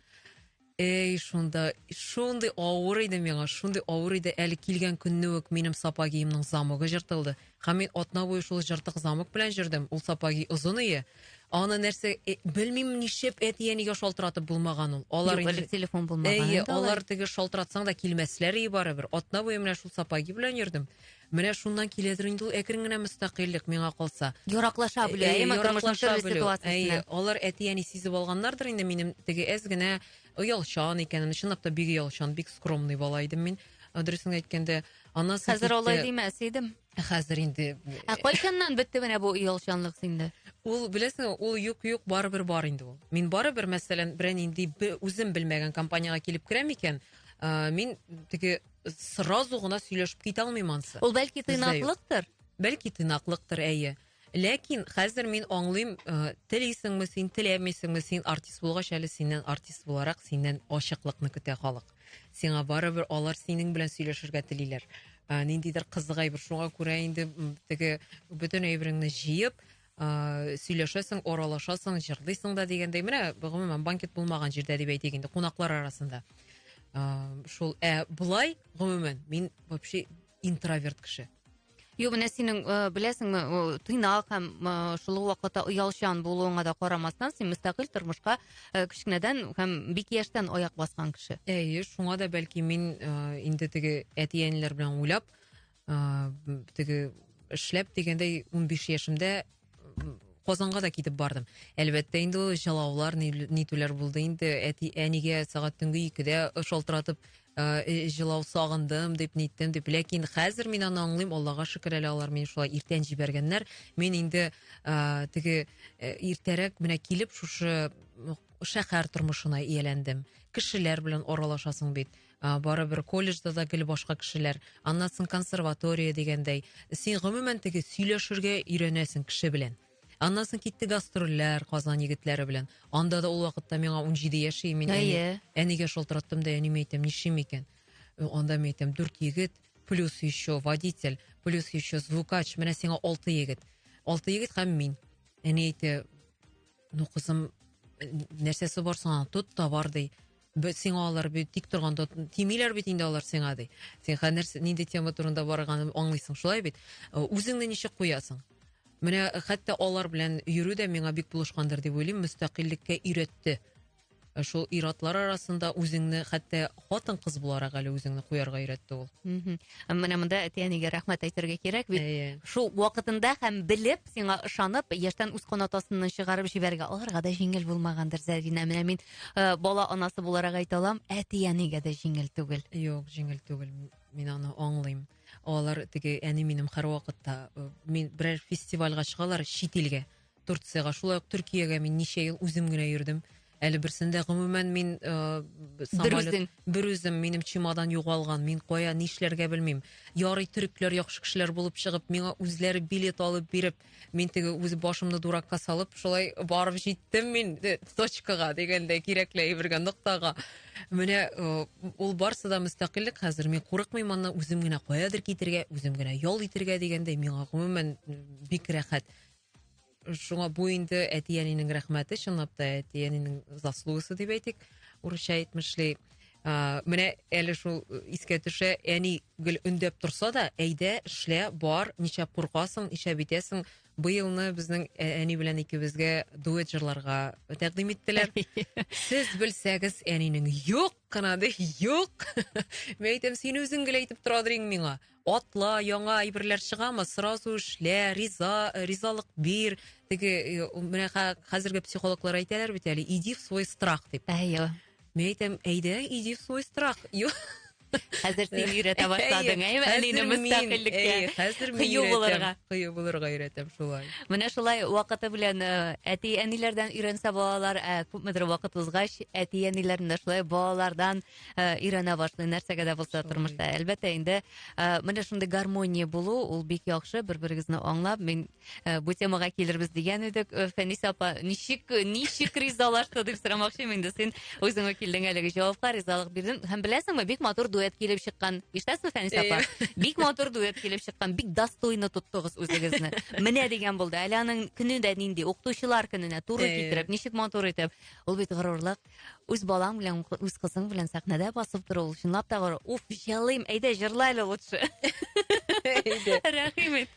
Speaker 1: эй шунда шундый авыр иде миңа шундый авыр иде әле килгән көнне үк минем сапогиемнең замогы жыртылды һәм мин атна буе шул жыртык замок белән жүрдем ул сапоги озын ие аны нәрсә э, белмим ничеп әти әнигә шалтыратып булмаган ул алар Юк, элек телефон булмаган әйе алар теге шалтыратсаң да килмәсләр ие барыбер атна буе менә шул сапоги белән йөрдем Менә шуннан киләдер инде ул әкрен генә мөстәкыйльлек, миңа калса. Яраклаша белү, Әй, әйеме, тормышның яраклаша төрле белү. ситуациясенә. Әй, алар әти-әни сизеп алганнардыр инде минем теге әз генә оялчан икәнемне. Чынлап та бик оялчан, бик скромный бала идем мин. Ә, Дөресен әйткәндә, анасы Хәзер китте. алай димәс идем. Хәзер инде Ә кайчаннан бетте менә бу оялчанлык синдә? Ул, беләсеңме, ул юк-юк барыбер бар инде ул. Мин барыбер, мәсәлән, берәр нинди бе- үзем белмәгән компаниягә килеп керәм икән, ә, мин теге сразу гына сөйләшеп китә алмыйм ансы. Ул бәлки тыйнаклыктыр. Бәлки тыйнаклыктыр, әйе. Ләкин хәзер мин аңлыйм, э, телисеңме син, теләмисеңме син артист булгач әле синнән артист буларак синнән ачыклыкны көтә халык. Сиңа барыбер алар синең белән сөйләшергә телиләр. Э, ниндидер кызык әйбер шуңа күрә инде теге бөтен әйбереңне җыеп, Э, сөйләшәсең, аралашасың, җырлыйсың да дигәндәй. Менә гомумән банкет булмаган җирдә дип әйтик инде, кунаклар арасында. Э, шул ә болай гомумән мин вообще интроверт кеше. Юк, менә синең э, беләсеңме, тыйнак һәм шул ук вакытта оялчан булуыңа да карамастан, син мөстәкыйль тормышка кечкенәдән һәм бик яшьтән аяк баскан кеше. Әйе, шуңа да бәлки мин инде теге әти-әниләр белән уйлап, ыыы теге эшләп дигәндәй унбиш яшемдә Казанга да китеп бардым. Әлбәттә инде ул җылаулар, нитүләр булды инде. Әти, әнигә сәгать төнге 2-дә шалтыратып җылау сагындым дип ниттем дип. Ләкин хәзер мин аны аңлыйм, Аллага шөкер әле алар мине шулай иртән җибәргәннәр. Мин инде теге иртәрәк менә килеп шушы шәһәр тормышына ияләндем. Кешеләр белән аралашасың бит. Ә, барыбер колледжда да гел башка кешеләр, аннан соң консерватория дигәндәй. Син гомумән теге сөйләшергә өйрәнәсең кеше белән. Аннан соң китте гастрольләр Казан егетләре белән. Анда да ул вакытта миңа 17 яшь и мин әни, Әйе. әнигә шалтыраттым да әниме әйтәм, нишим икән? Э, Анда мин әйтәм, дүрт егет, плюс еще водитель, плюс еще звукач, менә сиңа алты егет. Алты егет һәм мин. Әни әйтә, ну кызым, э, нәрсәсе бар соң аның, тот та бар ди. Бит сиңа алар бит тик торганда тимиләр бит инде алар сиңа ди. Син хәнер нинди тема турында барганын аңлыйсың, шулай бит? Э, үзеңне ничек куясың? Менә э, хәтта алар белән йөрү дә миңа бик булышкандыр дип уйлыйм, мөстәкыйльлеккә өйрәтте. Э, шул иратлар арасында үзеңне хәтта хатын кыз буларак әле үзеңне куярга өйрәтте ул. Менә монда әти-әнигә рәхмәт әйтергә кирәк бит. Әйе. Шул вакытында һәм белеп, сиңа ышанып, яшьтән үз канатасыннан чыгарып җибәрергә аларга да җиңел булмагандыр, Зәринә. Менә мин Э, бала анасы буларак әйтә алам, әти-әнигә дә җиңел түгел. Юк, җиңел түгел. Мин аны аңлыйм. Алар теге әни минем һәрвакытта э, мин берәр фестивальгә чыгалар чит илгә, Турцияга, шулай ук Төркиягә мин ничә ел үзем генә йөрдем. Әле берсендә гомумән мин э, самолет бер үзем минем чемодан югалган. Мин кая нишләргә белмим. Ярый төрекләр яхшы кешеләр булып чыгып, миңа үзләре билет алып биреп, мин теге үз башымны дуракка салып шулай барып җиттем мин э, точкага дигәндәй кирәкле әйбергә ноктага менә э, ул барсы да мөстәкыйльлек хәзер мин курыкмыйм аннан үзем генә каядыр китергә үзем генә ял итергә дигәндәй миңа гомумән э, бик рәхәт шуңа бу инде әти әнинең рәхмәте чынлап та әти әнинең заслугасы дип әйтик урысча әйтмешли менә әле шул искә төшә әни Гел өндәп торса да, әйдә, эшлә, бар, ничәп куркасың, ничәп итәсең. Быелны безнең ә, әни белән икебезгә дуэт җырларга тәкъдим иттеләр. Сез белсәгез, әнинең юк кына ди, юк. Мин әйтәм, син үзең гел әйтеп торадыр иң миңа. Атла, яңа әйберләр чыгамы, сразу эшлә, риза, ризалык бир. Теге э, менә хә- хәзерге психологлар әйтәләр бит әле, иди в свой страх дип. Әйе. Мен әйтәм, әйдә, иди в свой страх. Ю- Хәзер син өйрәтә башладың, әйме? Әнине мөстәкыйльлеккә. Хәзер мин кыю булырга. Кыю булырга өйрәтәм шулай. Менә шулай вакыты белән э, әти-әниләрдән өйрәнсә балалар, ә күпмедер вакыт узгач, әти-әниләрдән дә шулай балалардан э, өйрәнә башлый, нәрсәгә дә булса тормышта. Әлбәттә, инде э, менә шундый гармония булу, ул бик яхшы, бер-берегезне аңлап, мин Э, бу темага килербез дигән идек. Э, Фәниса апа, ничек ничек ризалашты дип сорамакчымын инде. Син үзеңә килдең әлеге җавапка, ризалык бирдең. Һәм беләсеңме, бик матур дуэт килеп чыккан. Иштәсме, Фәниса апа? Бик матур дуэт килеп чыккан. Бик достойно тоттыгыз үзегезне. Менә дигән булды. Әле аның көне дә нинди, укытучылар көненә туры китереп, ничек матур итеп. Ул бит горурлык. Үз балаң белән, үз кызың белән сәхнәдә басып тору, ул чынлап та горур. Уф, җылыйм. Әйдә, җырла әле лучше. Әйдә. Рәхим ит.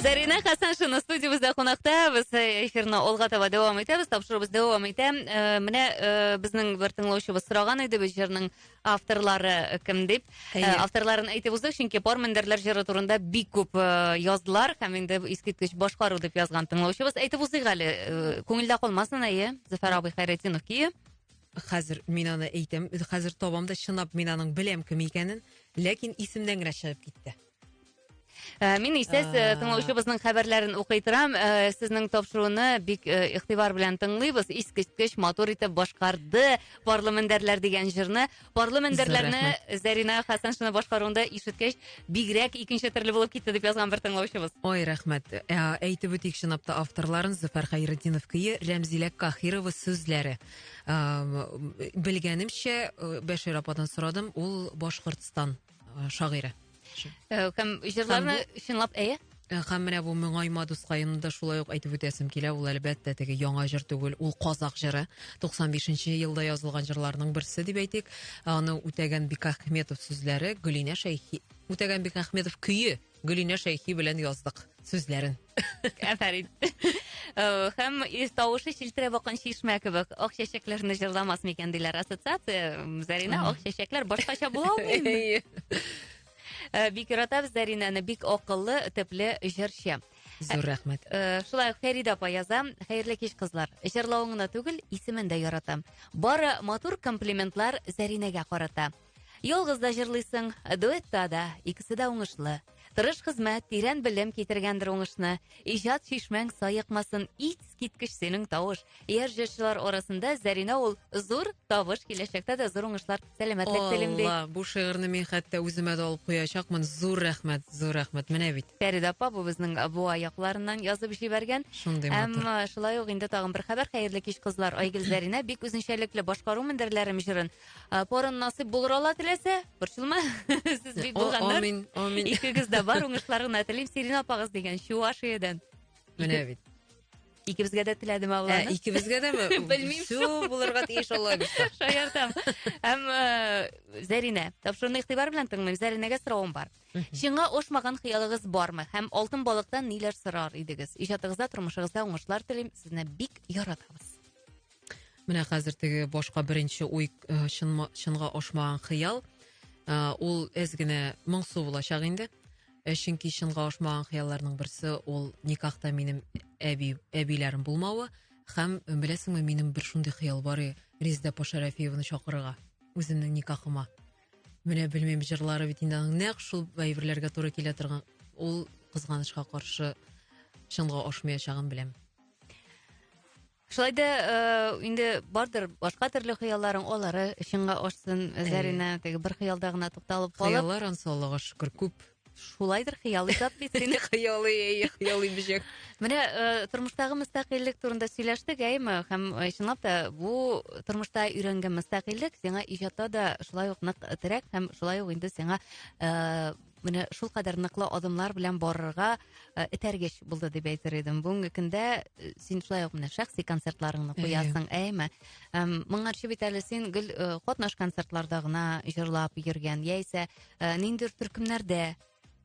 Speaker 1: Зарина Хасаншина студиябездә кунакта. Без э, эфирны алга таба дәвам итәбез. Тапшыруыбыз дәвам итә. Э, менә э, безнең бер тыңлаучыбыз сораган иде без җырның Авторлары кем дип, Әйе. авторларын әйтеп уздык, чөнки пар мендәрләр җыры турында бик күп язлар һәм инде искиткеч башкару дип язган тыңлаучыбыз. Әйтеп узыйк әле, күңелдә калмасын, әйе, Зөфәр абый Хәйретдинов көе. Хәзер мин аны әйтәм, хәзер табам да чынлап мин аның беләм кем икәнен, ләкин исемнән генә чыгып китте. Э, мин исә э, тыңлаучыбызның хәбәрләрен укый торам. Э, сезнең тапшыруны бик игътибар белән тыңлыйбыз. Искиткеч матур итеп башкарды Парлы мендәрләр дигән җырны. Парлы мендәрләрне Зарина Хасаншина башкаруында ишеткәч, бигрәк икенче төрле булып китте дип язган бер тыңлаучыбыз. Ой, рәхмәт. Әйтеп үтик чынлап та авторларын Зөфәр Хәйретдинов көе, Рәмзилә Кахирова сүзләре. Белгәнемчә, Бәшир ападан сорадым, ул Башкортстан э, шагыйрә э, һәм җырларны чынлап әйе Э, һәм менә бу моңайма дускаемны да шулай ук әйтеп үтәсем килә ул әлбәттә теге яңа җыр түгел ул казак җыры 95 нче елда язылган җырларның берсе дип әйтик аны үтәгән бикахметов сүзләре гөлинә шәйхи үтәгән бикахметов көе гөлинә шәйхи белән яздык сүзләрен Афәрин. Э, һәм ис тавышы чилтерә бакан чишмә кебек. Ак чәчәкләрне җырламас микән диләр ассоциация. Зарина ак чәчәкләр башкача була алмыймы? Э, бик яратабыз Заринаны, бик акыллы, төпле җырчы. Зур рәхмәт. Э, шулай ук Фәридә апа яза. Хәерле кич, кызлар. Җырлавыңны түгел, исемен дә яратам. Бары матур комплиментлар Заринәгә карата. Ялгыз да җырлыйсың, дуэтта да, икесе дә уңышлы. Тырыш хезмәт, тирән белем китергәндер уңышны. Иҗат чишмәң саекмасын, итс киткеч синең тавыш. Яшь җырчылар арасында Зәринә ул зур табыш, киләчәктә дә зур уңышлар, сәламәтлек телим ди. Алла, бу шигырьне мин хәтта үземә дә алып куячакмын. Зур рәхмәт, зур рәхмәт. Менә бит. Фәридә апа бу безнең Буа якларыннан язып җибәргән. Шундый матур. Әмма шулай ук инде тагын бер хәбәр. Хәерле кич, кызлар. Айгөл Зәринә бик үзенчәлекле башкару мендәрләрем җырын Ә, Порын насыйп булыр алла теләсә, борчылма. Сез бик О, булганнар. Амин, амин. Икегез дә бар уңышлар гына телим. Сирин апагыз дигән Чувашиядән. Менә бит. Икебезгә дә теләдем Ә, Алланы. икебезгә дәме? Белмим. Все булырга тиеш Алла бирса. Шаяртам. Һәм э, Зәринә. Тапшыруны игътибар белән тыңлыйм. Зәринәгә соравым бар. Чыңга ошмаган хыялыгыз бармы? Һәм алтын балыктан ниләр сорар идегез? Иҗатыгызда, тормышыгызда уңышлар телим. Сезне бик яратабыз. Менә хәзер теге башка беренче уй э, чынма, чынга ашмаган хыял. Э, ул әз генә моңсу булачак инде. Э, чөнки чынга ашмаган хыялларның берсе ул никахта минем әби, әбиләрем булмавы. Хәм беләсеңме, минем бер шундый хыял бар и Резда Пашарафиеваны чакырырга үземнең никахыма. Менә белмим җырлары бит инде аның нәкъ шул әйберләргә туры килә торган. Ул кызганычка каршы чынга ашмаячагын беләм. Шулай да э, инде бардыр башка төрле хыялларың, алары чынга ашсын. Зәринә теге бер хыялда гына тукталып калып, Хыяллар ансы Аллага шөкер күп. шулайдыр хыял иҗат бит синең. Хыялый, әй, хыялый бөҗәк. Менә э, тормыштагы мөстәкыйльлек турында сөйләштек, әйме? Һәм э, чынлап та бу тормышта өйрәнгән мөстәкыйльлек сиңа иҗатта да шулай ук нык терәк һәм шулай ук инде сиңа э, Менә шулкадәр ныклы адымнар белән барырга э, этәргеч булды дип әйтер идем. Бүгенге көндә э, син шулай ук менә шәхси концертларыңны куясың, әйме? Эм, Моңарчы бит әле син гел э, катнаш концертларда гына җырлап йөргән, яисә э, ниндидер төркемнәрдә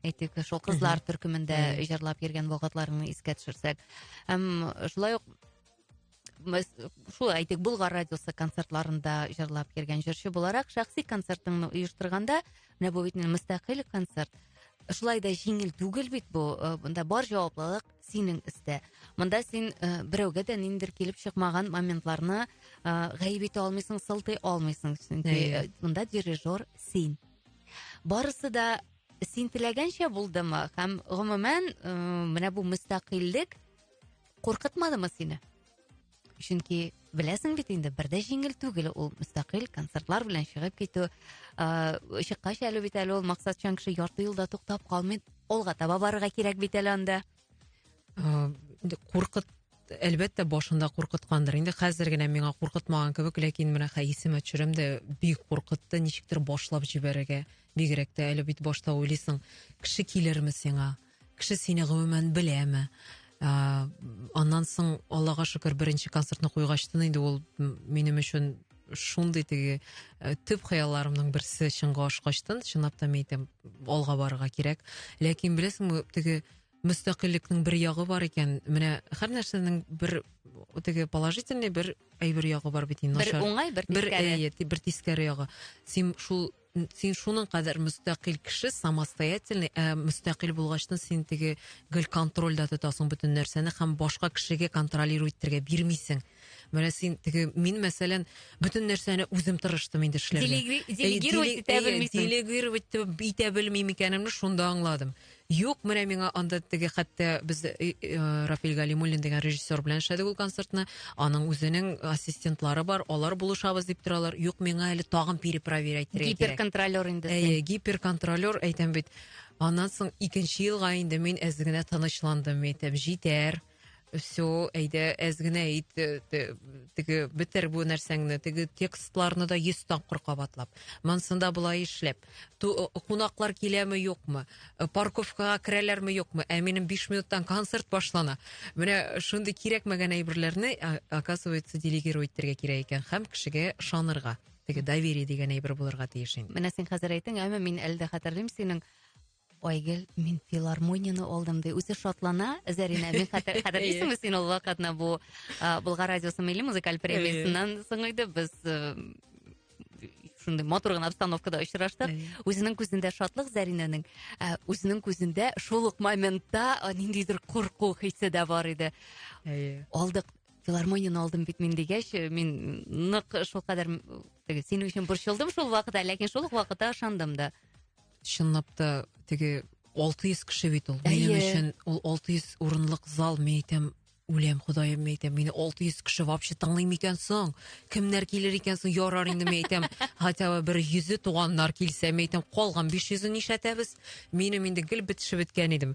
Speaker 1: әйтик, шул кызлар төркемендә җырлап йөргән вакытларыңны искә төшерсәк. Эм, Шулай ук шулай әйтик болгар радиосы концертларында жырлап йөрген жырчы буларак шәхси концертыңны оештырганда менә бу бит мөстәкыйль концерт шулай да җиңел түгел бит бу э, монда бар җаваплылык синең өстә монда син э, берәүгә дә ниндидер килеп чыкмаган моментларны э, гаеп итә алмыйсың сылтый алмыйсың чөнки монда дирижер син барысы да син теләгәнчә булдымы һәм гомумән менә бу мөстәкыйльлек Куркытмадымы сине? Чөнки беләсең бит инде, бер дә җиңел түгел ул мөстәкыйль концертлар белән чыгып китү. Ә, чыккач әле бит әле ул максатчан кеше ярты юлда туктап калмый. Алга таба барырга кирәк бит әле анда. Ә, куркыт әлбәттә башында куркыткандыр. Инде хәзер генә миңа куркытмаган кебек, ләкин менә хәисемә төшерәм дә бик куркытты, ничектер башлап җибәрергә. Бигрәк тә әле бит башта уйлыйсың, кеше килерме сиңа? Кеше сине гомумән беләме? Ә, аннан соң, Аллага шөкер, беренче концертны куйгачтын инде ул минем өчен шундый теге э, төп хыялларымның берсе чынга ашкачтын, чынлап та мин әйтәм, алга барырга кирәк. Ләкин беләсеңме, теге мөстәкыйльлекнең бер ягы бар икән. Менә һәр нәрсәнең бер теге положительный бер әйбер ягы бар бит инде. Бер уңай, бер тискәре. Бер, әйе, бер тискәре ягы. Син шул син шуның кадәр мөстәкыйль кеше, самостоятельный, ә мөстәкыйль булгачтын син теге гел контрольдә тотасың бөтен нәрсәне һәм башка кешегә контролировать итәргә бирмисең. Менә син теге мин мәсәлән бөтен нәрсәне үзем тырыштым инде эшләргә. Делегировать итә белмисең. Делегировать итә белмим икәнемне шунда аңладым. Юк, менә миңа анда теге хәтта без э, э, Рафиль Галимуллин дигән режиссер белән эшләдек ул концертны. Аның үзенең ассистентлары бар, алар булышабыз дип торалар. Юк, миңа әле тагын перепроверять итәргә кирәк. Гиперконтролер инде. син. Әйе, гиперконтролер әйтәм бит. Аннан соң икенче елга инде мин әз генә тынычландым, әйтәм, җитәр. все, әйдә, әз генә ит, э, теге бетер бу нәрсәңне, теге текстларны да 100 тапкыр кабатлап. Монсында болай эшләп. Э, кунаклар киләме, юкмы? Э, парковкага керәләрме, юкмы? Ә минем 5 минуттан концерт башлана. Менә шундый кирәкмәгән әйберләрне, оказывается, делегировать итәргә кирәк икән һәм кешегә шанырга. Теге доверие дигән әйбер булырга тиеш инде. Менә син хәзер әйтең, әмма мин әле дә хәтерлим синең Айгөл, мин филармонияне алдым, ди. Үзе шатлана, Зәринә, мин хәтер, хәтерлисеңме син ул вакытны бу Болгар радиосы милли музыкаль премиясеннән соң иде, без шундый матур гына обстановкада очраштык. Үзенең күзендә шатлык Зәринәнең, үзенең күзендә шул ук моментта ниндидер курку хисе дә бар иде. Алдык филармонияны алдым бит мин дигәч э, мин нык шулкадәр теге синең өчен борчылдым шул вакытта ләкин шул ук вакытта ышандым да Чынлап та теге 600 кеше бит ул. Минем өчен ул 600 урынлык зал, мин әйтәм, үләм ходаем мен әйтәм мине 600 кеше вообще тыңлыймы икән соң кемнәр килер икән соң ярар инде мен әйтәм хотя бы бер йөзе туганнар килсә мен әйтәм калган 500-ен нишләтәбез минем инде гел бетешеп беткән идем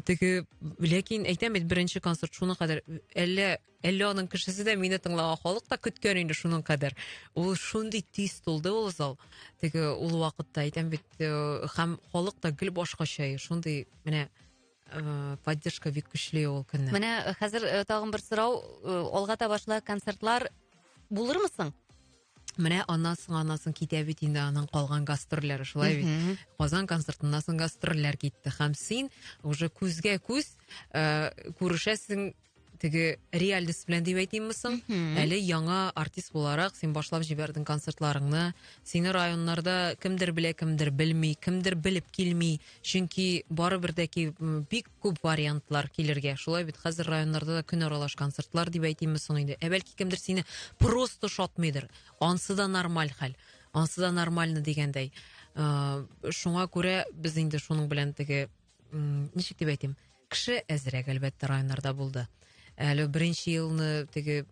Speaker 1: теге ләкин әйтәм бит беренче концерт шуңа кадәр әллә Әллә аның кешесе дә мине тыңлаган халык та көткән инде шуның кадәр. Ул шундый тиз тулды ул зал. Теге ул вакытта әйтәм бит, э, һәм халык та гел башкача, шундый менә э, поддержка бик көчле ул көнне. Менә э, хәзер э, тагын бер сорау, э, алга таба шулай концертлар булырмы соң? Менә аннан соң аннан соң китә бит инде аның калган гастрольләре шулай бит. Мгм. Казан концертыннан соң гастрольләр китте һәм син уже күзгә күз э, күрешәсең теге реальность белән дип әйтимме соң, әле яңа артист буларак син башлап җибәрдең концертларыңны. Сине районнарда кемдер белә, кемдер белми, кемдер белеп килми. Чөнки барыбер дә ки бик күп вариантлар килергә. Шулай бит хәзер районнарда да көн аралаш концертлар дип әйтимме соң инде. Ә бәлки кемдер сине просто шатмыйдыр. Ансы да нормаль хәл. Ансы да нормально дигәндәй. Э, шуңа күрә без инде шуның белән теге м ничек дип әйтим кеше әзрәк әлбәттә районнарда булды әле беренче елны теге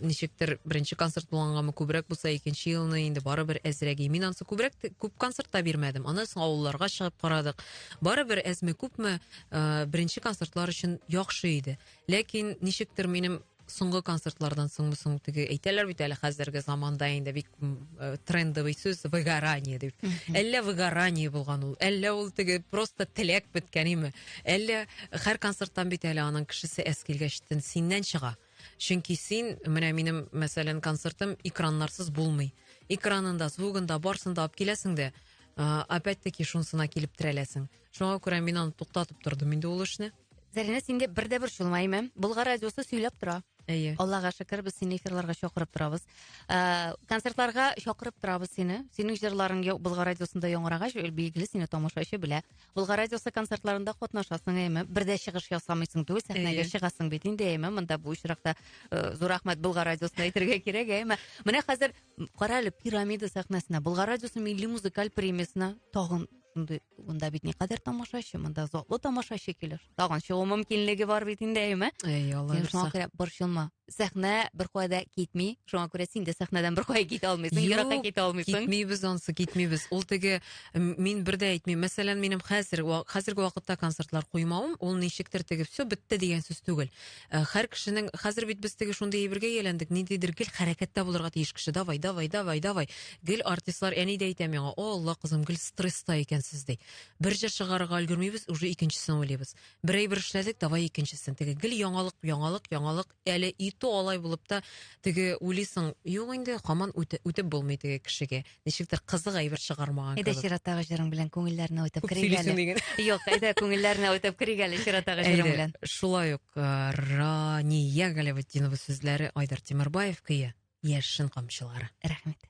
Speaker 1: ничектер беренче концерт булгангамы күбрәк булса икенче елны инде барыбер әзрәк мин ансы күбрәк күп концерт та бирмәдем аннан соң авылларга чыгып карадык барыбер әзме күпме ә, беренче концертлар өчен яхшы иде ләкин ничектер минем соңгы концертлардан соңмы соң теге әйтәләр бит әле хәзерге заманда инде бик э, трендовый сүз выгорание дип әллә выгорание булган ул әллә ул теге просто теләк беткәнеме әллә һәр концерттан бит әле аның кешесе әз килгәч синнән чыга чөнки син менә минем мәсәлән концертым экраннарсыз булмый экранында звугында барсында алып киләсең дә опять таки шунысына килеп терәләсең шуңа күрә мин аны туктатып тордым инде ул эшне Зәринә, синдә бер дә бер чулмаймы? Болгар радиосы сөйләп тора. Әйе. Аллага шөкер, без сине эфирларга чакырып торабыз. Ә, концертларга чакырып торабыз сине. Синең җырларың Болгар радиосында яңарагач, билгеле сине тамашачы белә. Болгар радиосы концертларында катнашасың, әйме? Бер дә чыгыш ясамыйсың түгел, сәхнәгә чыгасың бит инде, әйме? Монда бу очракта э, зур рәхмәт Болгар радиосына әйтергә кирәк, әйме? Менә хәзер кара әле пирамида сәхнәсенә, Болгар радиосы милли музыкаль премиясенә тагын шундый монда бит никадәр тамашачы монда затлы тамашачы килер тагын чыгу мөмкинлеге бар бит инде әйеме әй алла син шуңа күрә борчылма сәхнә беркая да китми шуңа күрә син дә сәхнәдән беркая китә алмыйсың еракка китә алмыйсың китмибез ансы китмибез ул теге мин бер дә әйтмим мәсәлән минем хәзер хәзерге вакытта концертлар куймавым ул ничектер теге все бетте дигән сүз түгел Э, хәр кешенең хәзер бит без теге шундый әйбергә ияләндек ниндидер гел хәрәкәттә булырга тиеш кеше давай давай давай давай гел артистлар әни дә әйтә миңа о алла кызым гел стресста икәнсез ди бер җыр чыгарырга өлгермибез уже икенчесен уйлыйбыз бер әйбер эшләдек давай икенчесен теге гел яңалык яңалык яңалык әле и то алай булып та теге уйлыйсың юк инде хаман үтеп булмый теге кешегә ничектер кызык әйбер чыгармаган кебек. Әйдә чираттагы җырың белән күңелләрне уйтап Күп керик әле. диген. Юк, әйдә күңелләрне уйтап керик әле чираттагы җырың белән. Шулай ук э, Рания Галәветдинова сүзләре Айдар Тимербаев көе Яшен камчылары. Рәхмәт.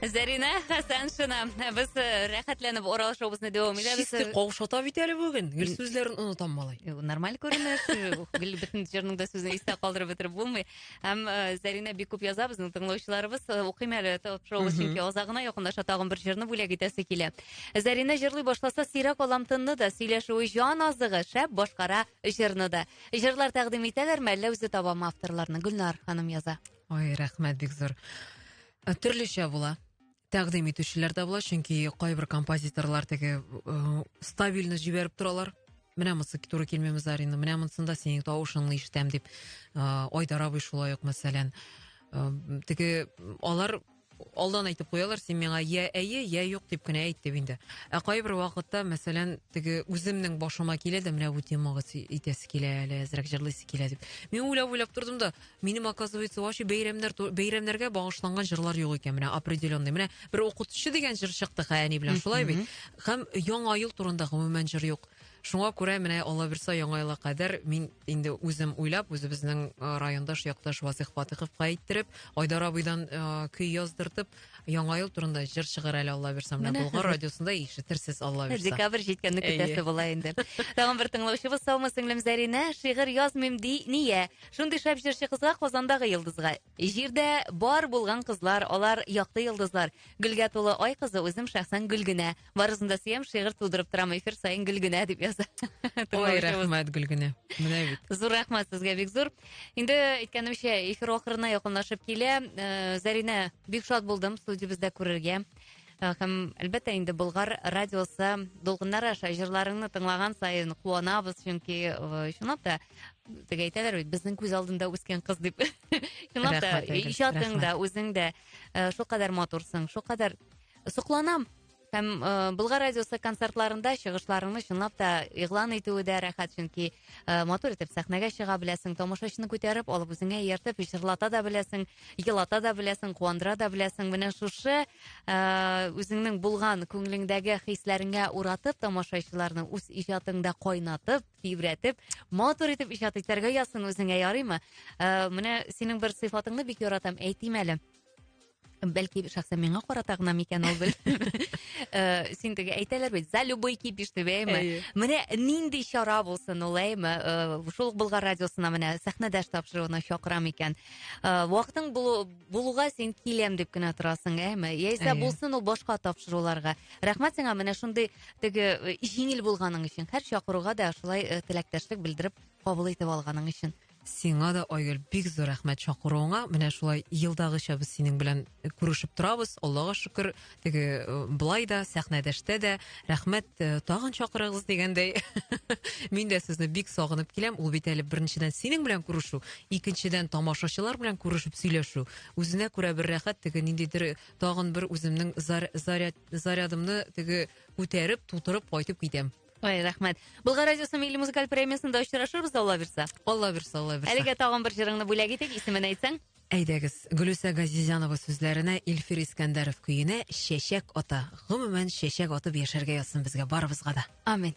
Speaker 1: Зәринә Хәсәншина. Без э, рәхәтләнеп Урал шоубызны дәвам итәбез. Чисти каушата бит әле бүген. Гел сүзләрен онытам малай. Э, нормаль күренеш. Гел бөтен җырның да сүзен истә калдырып бетереп булмый. Һәм э, Зәринә бик күп яза безнең тыңлаучыларыбыз. Укыйм әле топ шоубыз, чөнки азагына якынлаша тагын бер җырны бүләк итәсе килә. Зәринә җырлый башласа, сирәк алам тынны да, сөйләшүе җан азыгы, шәп башкара җырны да. Җырлар тәкъдим итәләрме, әллә үзе табамы авторларны? Гөлнар ханым яза. Ой, рәхмәт бик зур. Э, Төрлечә була. Тәкъдим итүчеләр дә була, чөнки кайбер композиторлар теге э, стабильно җибәреп торалар. Менә монысы туры килмиме Зарина, менә монысында синең тавышыңны ишетәм дип. Э, Айдар абый шулай ук мәсәлән. Э, Теге алар Алдан әйтеп куялар, син миңа я әйе, я юк дип кенә әйт дип инде. Ә кайбер вакытта, мәсәлән, теге үземнең башыма килә дә менә бу темага итәсе килә әле, әзрәк җырлыйсы килә дип. Мин уйлап-уйлап тордым да, минем, оказывается, вообще бәйрәмнәр, бәйрәмнәргә багышланган җырлар юк икән, менә определенный. Менә бер укытучы дигән җыр чыкты Хәяни белән, шулай бит? Һәм Яңа ел турында гомумән җыр юк. Шуңа күрә менә Аллабирса яңа елга кадәр мин инде үзем уйлап, үзебезнең э, райондаш якташ Васих Фатыховка әйттереп, Айдар абыйдан э, көй яздыртып, яңа ел турында җыр чыгар әле Аллабирса менә Менә Болгар хәзер. радиосында ишетерсез Аллабирса. Декабрь җиткәнне Әйе. көтәсе була инде. Тагын бер тыңлаучыбыз саумы сеңлем Зәринә, шигырь язмыйм ди, нигә? Шундый шәп җырчы кызга Казандагы йолдызга. Җирдә бар булган кызлар, алар якты йолдызлар. Гөлгә тулы ай кызы үзем шәхсән Гөлгенә. Барысын да сөям, шигырь тудырып торам эфир саен Гөлгенә дип яза. Ой, рәхмәт Гөлгенә. Менә бит. Зур рәхмәт сезгә бик зур. Инде әйткәнемчә, эфир ахырына якынлашып килә. Э, Зәринә, бик шат булдым студиябездә күрергә. Э, һәм әлбәттә инде Болгар радиосы Долгыннар аша җырларыңны тыңлаган саен куанабыз, чөнки э, чынлап та теге әйтәләр бит безнең күз алдында үскән кыз дип чынлап та иҗатың да үзең дә э, шулкадәр матурсың шулкадәр сокланам һәм э, Болгар радиосы концертларында чыгышларыңны чынлап та игълан итүе дә рәхәт, чөнки э, матур итеп сәхнәгә чыга беләсең, тамашачыны күтәреп, алып үзеңә ияртеп, җырлата да беләсең, елата да беләсең, куандыра да беләсең. Менә шушы э, үзеңнең булган күңелеңдәге хисләреңә уратып тамашачыларны үз иҗатыңда кайнатып, тибрәтеп, матур итеп иҗат итәргә язсын үзеңә, ярыймы? Э, менә синең бер сыйфатыңны бик яратам, әйтим әле. Бәлки шәхсән миңа карата гына микән ул э, Син теге әйтәләр бит, за любой кипиш дип, әйме? Менә нинди чара булсын ул, әйме? Э, шул ук Болгар радиосына менә сәхнәдәш тапшыруына чакырам икән. Вакытың булуга син киләм дип кенә торасың, әйме? Яисә булсын ул башка тапшыруларга. Рәхмәт сиңа, менә шундый теге э, җиңел булганың өчен һәр чакыруга да шулай э, теләктәшлек белдереп кабул итеп алганың өчен сиңа да айгөл бик зур рәхмәт чакыруыңа менә шулай елдагыча без синең белән э, күрешеп торабыз аллага шөкер теге э, былай да сәхнәдәштә дә рәхмәт э, тагын чакырыгыз дигәндәй мин дә сезне бик сагынып киләм ул бит әле беренчедән синең белән күрешу икенчедән тамашачылар белән күрешеп сөйләшү үзенә күрә бер рәхәт теге ниндидер тагын бер үземнең заряд зарядымны теге күтәреп тутырып кайтып китәм Ой, рәхмәт. Булгар радиосы милли музыкаль премиясендә очрашырбыз, Алла бирсә. Алла бирсә, Алла бирсә. Әлегә тагын бер җырыңны бүләк итик, исемен әйтсәң? Әйдәгез, Гөлүсә Газизянова сүзләренә Илфир Искәндәров көенә Чәчәк ата. Гомумән, чәчәк атып яшәргә язсын безгә барыбызга да. Амин.